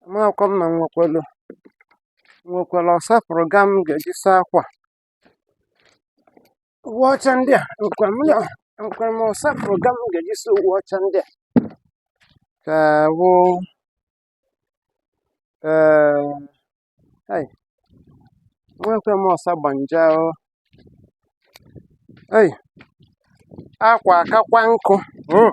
amakwa m na nwekwara nwekwara ọsapụrụ ga m ga-eji saa akwa uwe ọcha ndị a nkwa m ya nkwa m ọsapụrụ ga m ga-eji saa uwe ọcha ndị a ka wụ ee hai nwekwe m ọsa gbanja o ei akwa akakwa nkụ mm.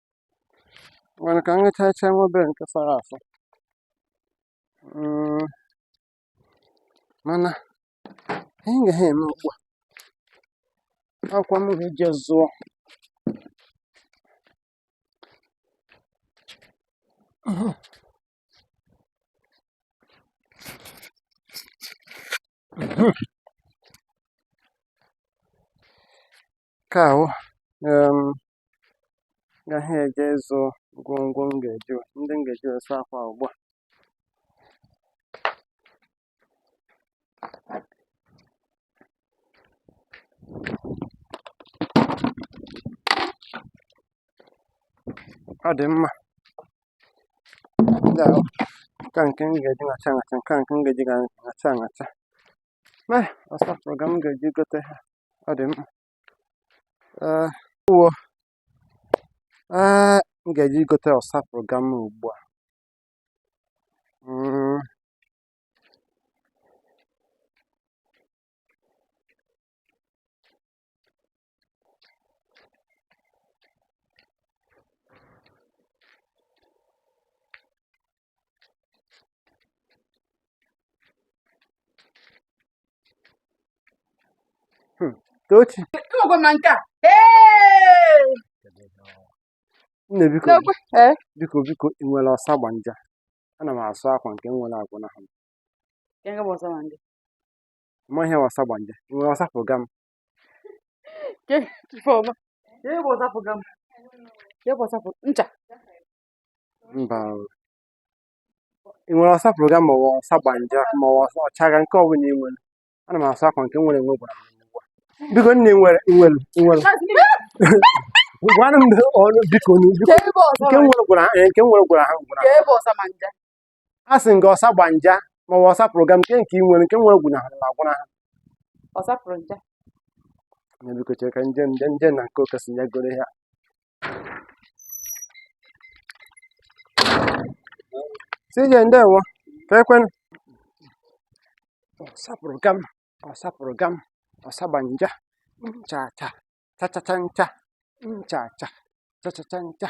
mana ka m ṅachacha nwa obere nke fọrọ afọ Mm, mana anyị gaghị eme ugbu a akwa m ga-eje zụọ Nke a wụ um gaghị eje ịzụ ngwongwo m ga-eji ndị m ga-eji wee saa akwa ugbu a. Ọ dị mma. Ndị a wụ nke a nke m ga-eji ṅacha ṅacha, nke a nke m ga-eji ga- ṅacha ṅacha. Mee ọsapụrụ gam m ga-eji gote ha. ọ dị mma ee ewo ee m ga-eje igote ọsapụrụ gam ugbu a mm. Hmm. Tochi. Nne biko eh? biko biko ị nwere ọsa gbanja ana m asụ akwa nke m nwere agwụna ha ma ihe ọsa gbanja ị nwere ọsapụrụ gam ncha mba ị nwere ọsapụrụ gam ma ọ ọsa gbanja ma ọ ọsa ọchaga nke ọbụla ị nwere ana m asụ akwa nke m nwere enwe gwụrụ m ugbu a. biko nne nwere nwere nwere gwara m ọnụ biko nụ, biko nke nwere gwara ha nke nwere gwara ha gwara ha. a sị nga ọsa gbanja maọbụ ọsa pụrụ gam nke nke ị nwere nke nwere gwụnahụrụ m agwụnaha ọ sapụrụ nja na biko chere ka m je m je m je na nke okesi ya goro ya sije ndewo ka ekwen ọsapụrụ gam ọsapụrụ gam ọsagbanja ncha cha cha cha cha ncha ncha cha cha cha cha ncha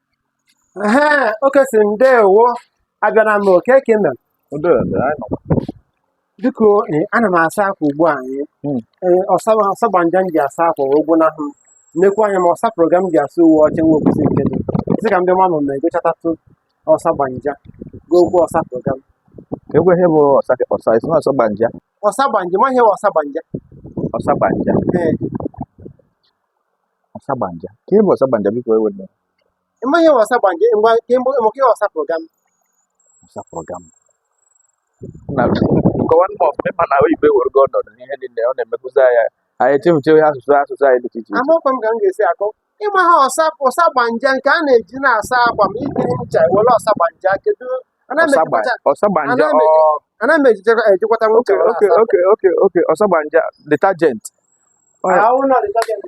ehe oke si ndewo abịara m oke ka i mere biko eh, ana m asa akwa ugbu a eh. Hmm. Eh, ọsa ọsa gbanja m ji asa akwa wee gwụnahụ m nnekwu anya m ọsa pụrụ gam m ji asụ uwe ọcha nwe okwusi nke dị sị ka m bịa mama m egochatatụ ọsa gbanja gokwuo ọsa pụrụ gam Egwe ihe bụ ọsa ọsa isi na ọsa gbanja ọsa gbanja ma ihe bụ ọsa gbanja ọsa gbanja ee ọsagbanja ke ihe bụ ọsagbanja biko ewe m ị maghị ihe ọsagbanja mgbe mgbe mgbe ihe ọsapụrụ gam ọsapụrụ gam na nkọwa ndị ọfụma ị ma na oyibo ewerego ọnọdụ n'ihe niile ọ na-emezi anyị anyị echefuchaa asụsụ asụsụ anyị dị iche iche amakwa m ka m ga-esi akọ ịma ha ọsa ọsagbanja nke a na-eji na-asa akwa ma ikiri ncha were ọsagbanja kedu ana m eji kọwata ọsagbanja Ana m eji- ọ ana m eji kọwata nwoke oke were oke asa okay okay okay ọsagbanja detergent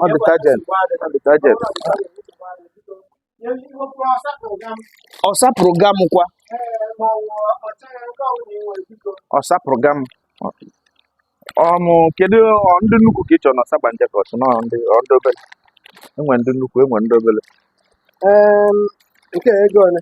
ọ detergent detergent ọ sapụrụ gam kwa ọ sapụrụ gam um kedu ndị nnukwu ka ị chọrọ na ọsagbanja ka ọ bụ na ndị obere e nwere ndị nnukwu e nwee ndị obere nke ego ole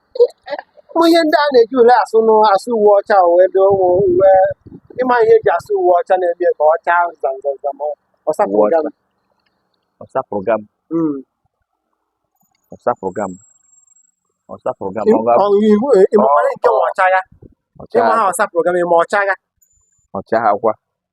ụmụ ihe ndị a na-eji ule asụ nụ asụ uwe ọcha o ebe ụmụ uwe ị ma ihe eji asụ uwe ọcha na-eme ka ọ chaa zamzam ma ọ Uwe sapụga ọcha. Ọ sapụrụ gam. Ọ sapụrụ gam. Ọ sapụrụ gam. Ọ ga- ịmụkwara nke ma ọcha ya Ọ ịma chaa ha ọ sapụrụ gam ịma ọcha ya ọ chaa akwa.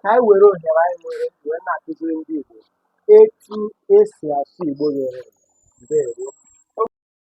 ka anyị were ohere anyị nwere wee na-akụziri ndị Igbo etu esi asụ Igbo ghere eghe. Ndewo.